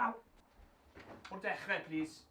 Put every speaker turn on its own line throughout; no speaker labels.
Aww! O'r dechrau, please.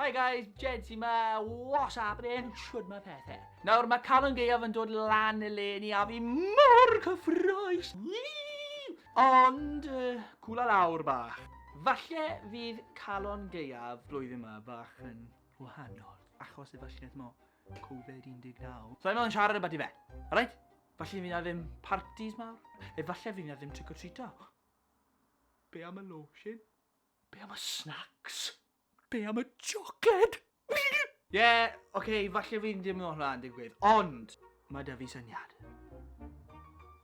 Hi guys, Jed sy'n ma, what's happening? Siwr mae pethau. Nawr mae Calon Gaeaf yn dod lan y le ni a fi mor cyffroes. Ond, uh, cwla lawr bach. Falle fydd Calon Gaeaf blwyddyn yma bach yn wahanol achos y fashneth mo Covid 19. So I'm on siarad about i fe. Alright? Falle fi'n ddim parties mawr. Efalle fi'n ddim trick or treato. Be am y lotion? Be am y snacks? Be am y chocolate? Ie, yeah, oce, okay, falle fi'n ddim yn hwnna'n digwydd, ond mae da fi syniad.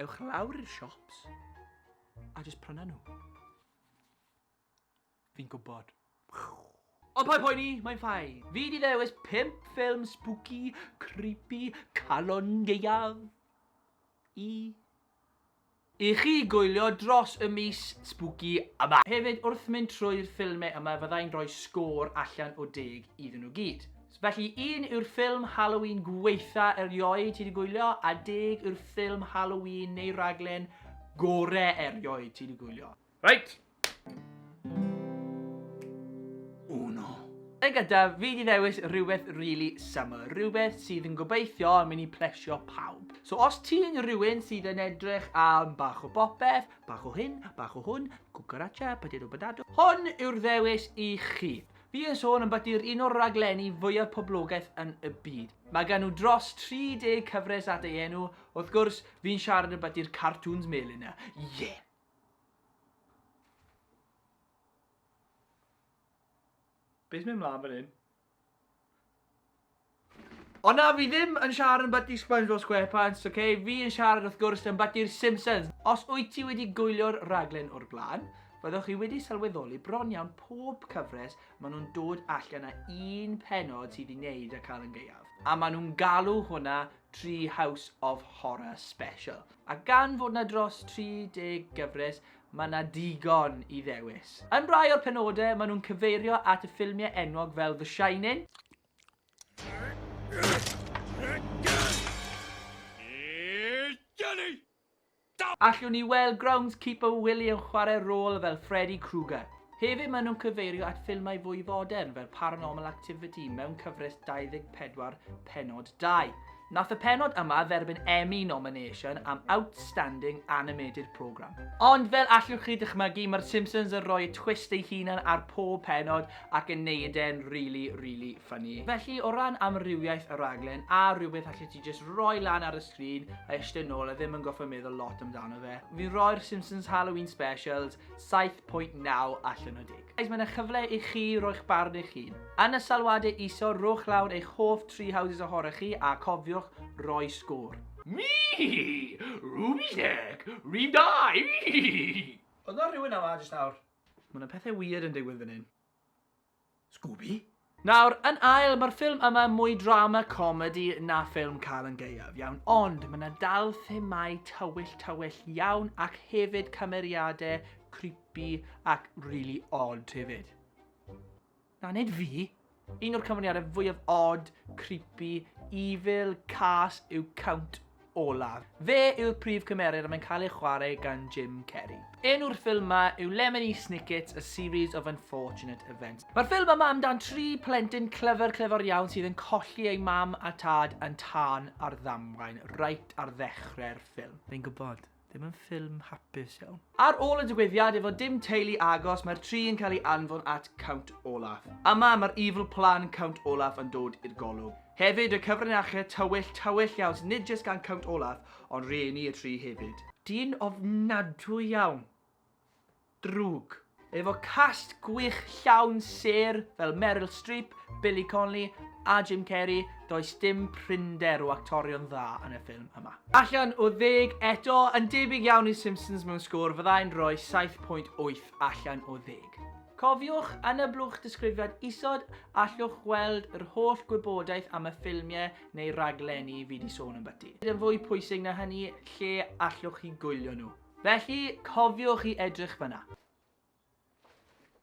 Ewch lawr i'r siops a jyst pryna nhw. Fi'n gwybod. Ond paid poeni, mae'n ffain. Fi di ddewis 5 ffilm spooky, creepy, calon ieuaf i I chi gwylio dros y mis spooky yma. Hefyd, wrth mynd trwy'r ffilmau yma fyddai'n rhoi sgôr allan o 10 iddyn nhw gyd. Felly, un yw'r ffilm Halloween gweitha erioed ti 'di gwylio, a deg yw'r ffilm Halloween neu raglen gore erioed ti 'di gwylio. Right. Oh no. Yn gyntaf, fi di ddewis rhywbeth really summer, rhywbeth sydd yn gobeithio yn mynd i plesio pawb. So os ti'n rhywun sydd yn edrych am bach o bopeth, bach o hyn, bach o hwn, cucaracha, potato potato, hwn yw'r ddewis i chi. Fi yn sôn yn bati'r un o'r raglenni fwyaf poblogaeth yn y byd. Mae gan nhw dros 30 cyfres at ei enw, wrth gwrs, fi'n siarad yn bati'r cartoons melyn yna. Yeah! Beth mynd mlaen fan hyn? O na, fi ddim yn siarad yn byty SpongeBob SquarePants, oce? Okay? Fi yn siarad wrth gwrs yn byty'r Simpsons. Os wyt ti wedi gwylio'r raglen o'r blaen, fyddwch chi wedi sylweddoli bron iawn pob cyfres maen nhw'n dod allan â un penod sydd i wneud â cael yn gaeaf. A maen nhw'n galw hwnna Tree House of Horror Special. A gan fod 'na dros 30 gyfres, mae 'na digon i ddewis. Yn rai o'r penodau, maen nhw'n cyfeirio at y ffilmiau enwog fel The Shining, Allwn ni weld groundskeeper Willie yn chwarae rôl fel Freddy Krueger. Hefyd maen nhw'n cyfeirio at ffilmau fwy fodern fel Paranormal Activity mewn cyfres 24 pennod dau. Nath y pennod yma dderbyn Emmy nomination am Outstanding Animated Programme. Ond fel allwch chi dychmygu, mae'r Simpsons yn rhoi twist ei hunan ar pob pennod ac yn neud e'n rili, rili ffyni. Felly, o ran amrywiaeth y rhaglen, a rhywbeth allet ti jyst rhoi lan ar y sgrin a eistedd nôl a ddim yn gorfod meddwl lot amdano fe, fi'n rhoi'r Simpsons Halloween Specials 7.9 allan o 10. Guys, mae yna chyfle i chi roi'ch barn eich hun. Yn y sylwadau isod, rhowch lawr eich hoff tri houses ohorach chi a cofiwch roi sgôr. Mi! Ruby Sec! Rib da! Oedd na rhywun yma jyst nawr? Mae yna pethau weird yn digwydd fan hyn. Scooby? Nawr, yn ail, mae'r ffilm yma yn mwy drama comedi na ffilm Cael yn Gaeaf, iawn, ond mae 'na dal themau tywyll tywyll iawn ac hefyd cymeriadau creepy ac really odd hefyd. Na, nid fi. Un o'r cymeriadau fwyaf odd, creepy, evil, cas yw Count olaf. Fe yw'r prif cymeriad a mae'n cael ei chwarae gan Jim Carrey. Enw'r ffilm ma yw Lemony Snicket's A Series of Unfortunate Events. Mae'r ffilm yma amdan tri plentyn clyfr clyfr iawn sydd yn colli eu mam a tad yn tân ar ddamwain reit ar ddechrau'r ffilm. Fi'n gwybod. Ddim yn ffilm hapus iawn. Ar ôl y digwyddiad efo dim teulu agos mae'r tri yn cael ei anfon at Count Olaf. Yma mae'r evil plan Count Olaf yn dod i'r golwg. Hefyd y cyfrinache tywyll tywyll iawn sydd nid jyst gan Count Olaf ond rhieni y tri hefyd. Dyn ofnadwy iawn. Drwg. Efo cast gwych llawn sêr fel Meryl Streep, Billy Connolly a Jim Carrey, does dim prinder o actorion dda yn y ffilm yma. Allan o ddeg eto, yn debyg iawn i Simpsons mewn sgôr, fyddai'n rhoi 7.8 allan o ddeg. Cofiwch, yn y blwch disgrifiad isod, allwch weld yr holl gwybodaeth am y ffilmiau neu raglenni fi 'di sôn ambyty. Yn fwy pwysig na hynny, lle allwch chi gwylio nhw. Felly, cofiwch i edrych fan'na.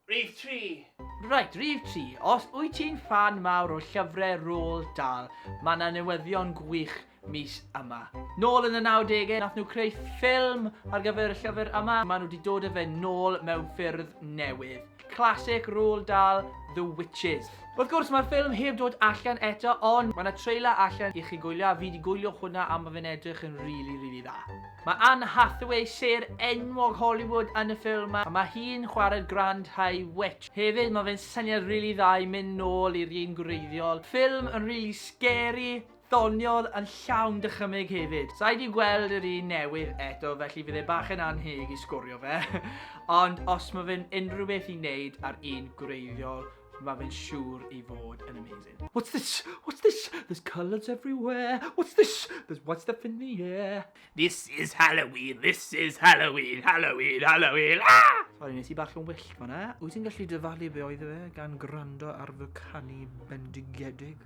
Rhif tri. Reit, rhif tri. Os wyt ti'n ffan mawr o llyfrau Roald Dahl, mae 'na newyddion gwych mis yma. Nôl yn y 90au, nath nhw creu ffilm ar gyfer y llyfr yma, maen nhw wedi dod â fe nôl mewn ffyrdd newydd. Classic Roald Dahl, The Witches. Wrth gwrs mae'r ffilm heb dod allan eto ond mae 'na trailer allan i chi gwylio a fi 'di gwylio hwnna a ma' fe'n edrych yn rili rili dda. Mae Anne Hathaway, sêr enwog Hollywood yn y ffilm 'ma a ma' hi'n chwarae'r Grand High Witch. Hefyd ma' fe'n syniad rili dda i mynd nôl i'r un gwreiddiol. Ffilm yn rili scary. doniol yn llawn dychymyg hefyd. Sai 'di gweld yr un newydd eto felly fydd e bach yn anheg i sgorio fe ond os mae fe'n unrhyw beth i neud ar un gwreiddiol mae fe'n siŵr i fod yn amazing. What's this? What's this? There's colours everywhere. What's this? There's white stuff in the air. This is Halloween, this is Halloween, Halloween, Halloween, ah! Sorry, nes i bach yn wyllt fanna. Wyt ti'n gallu dyfalu be oedd e gan gwrando ar fy canu bendigedig?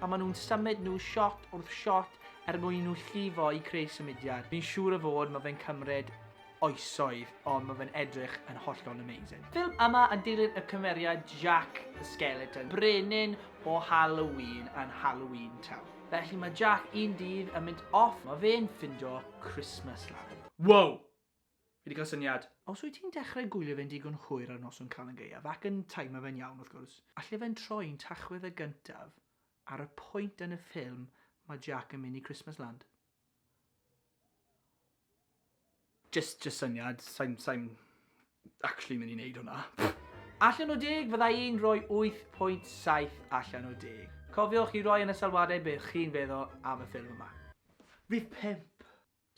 pan maen nhw'n symud nhw shot wrth shot er mwyn i nhw llifo i creu symudiad. Fi'n siŵr o fod mae fe'n cymryd oesoedd ond mae fe'n edrych yn hollol amazing. Ffilm yma yn dilyn y cymeriad Jack the Skeleton, brenin o Halloween yn Halloween Town. Felly mae Jack un dydd yn mynd off, mae fe'n ffindo Christmas Land. Wow! Fi 'di cael syniad! Os wyt ti'n dechrau gwylio fe'n digon hwyr ar noson Calan Gaeaf, ac yn taimo fe'n iawn, wrth gwrs, alle fe'n troi'n Tachwedd y gyntaf ar y pwynt yn y ffilm mae Jack yn mynd i Christmasland. Jyst, jyst syniad, sai'n, sai'n actually mynd i wneud hwnna. Allan o deg, fydda i'n rhoi 8.7 allan o deg. Cofiwch i roi yn y sylwadau beth chi'n feddwl am y ffilm yma. Rhif pump!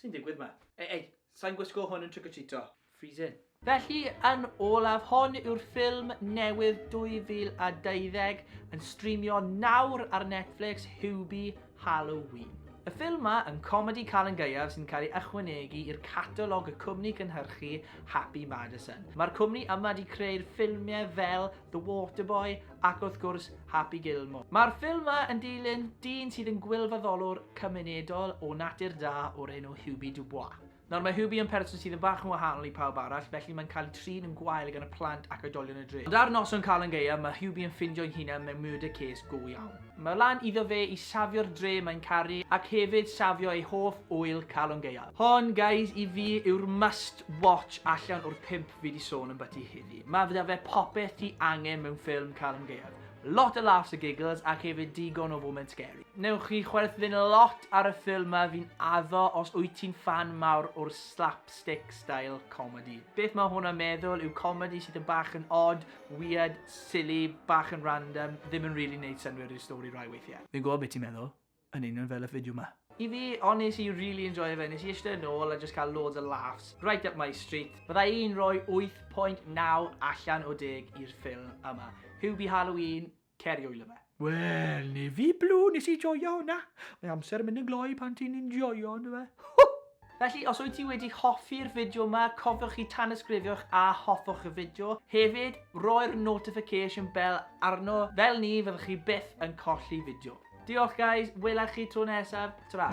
Sy'n digwydd ma? Ei, ei, sa'n gwisgo hwn yn trick-or-treato. Freezing. Felly, yn olaf, hon yw'r ffilm newydd 2020 yn streamio nawr ar Netflix, Hubie Halloween. Y ffilm ma yn comedi cael yn gaeaf sy'n cael ei ychwanegu i'r catalog y cwmni cynhyrchu Happy Madison. Mae'r cwmni yma wedi creu'r ffilmiau fel The Waterboy, ac wrth gwrs Happy Gilmore. Mae'r ffilm ma yn dilyn dyn sydd yn gwylfaddolwr cymunedol o natur da o'r enw Hubie Dubois. Nawr mae Hubie yn person sydd yn bach yn wahanol i pawb arall, felly mae'n cael ei trin yn gwael gan y plant ac oedolion y dre. Ond ar noson cael yn gaeaf, mae Hubie yn ffindio'i hunan mewn murder case go iawn. Mae lan iddo fe i safio'r dre mae'n caru ac hefyd safio ei hoff ŵyl calon gaeaf. Hon, guys, i fi yw'r must watch allan o'r pimp fi di sôn ambyti heddi. Mae fydda fe popeth ti angen mewn ffilm cael yn gaeaf. Lot o laughs a giggles ac hefyd digon o foment scary. Newch chi chwerthin lot ar y ffilm ma fi'n addo os wyt ti'n fan mawr o'r slapstick style comedy. Beth mae hwnna'n meddwl yw comedy sydd yn bach yn odd, weird, silly, bach yn random, ddim yn really neud synwyr i'r stori rai weithiau. Fi'n gwybod beth ti'n meddwl. Yn union fel y fideo 'ma. I fi, ond nes i really enjoio fe, nes i ishte yn ôl a jyst cael loads o laughs, right up my street. Bydda i'n rhoi 8.9 allan o 10 i'r ffilm yma. Hubie Halloween, cer i wylio fe. Wel, ni fi Blue, nes i joio hwnna. Mae amser yn mynd yn gloi pan ti'n enjoio, yndyfe? Felly, os wyt ti wedi hoffi'r fideo yma, cofiwch i tanysgrifio eich a hoffwch y fideo. Hefyd, roi'r notification bell arno, fel ni fyddwch chi byth yn colli fideo. Diolch guys, wela chi tro nesaf, tara!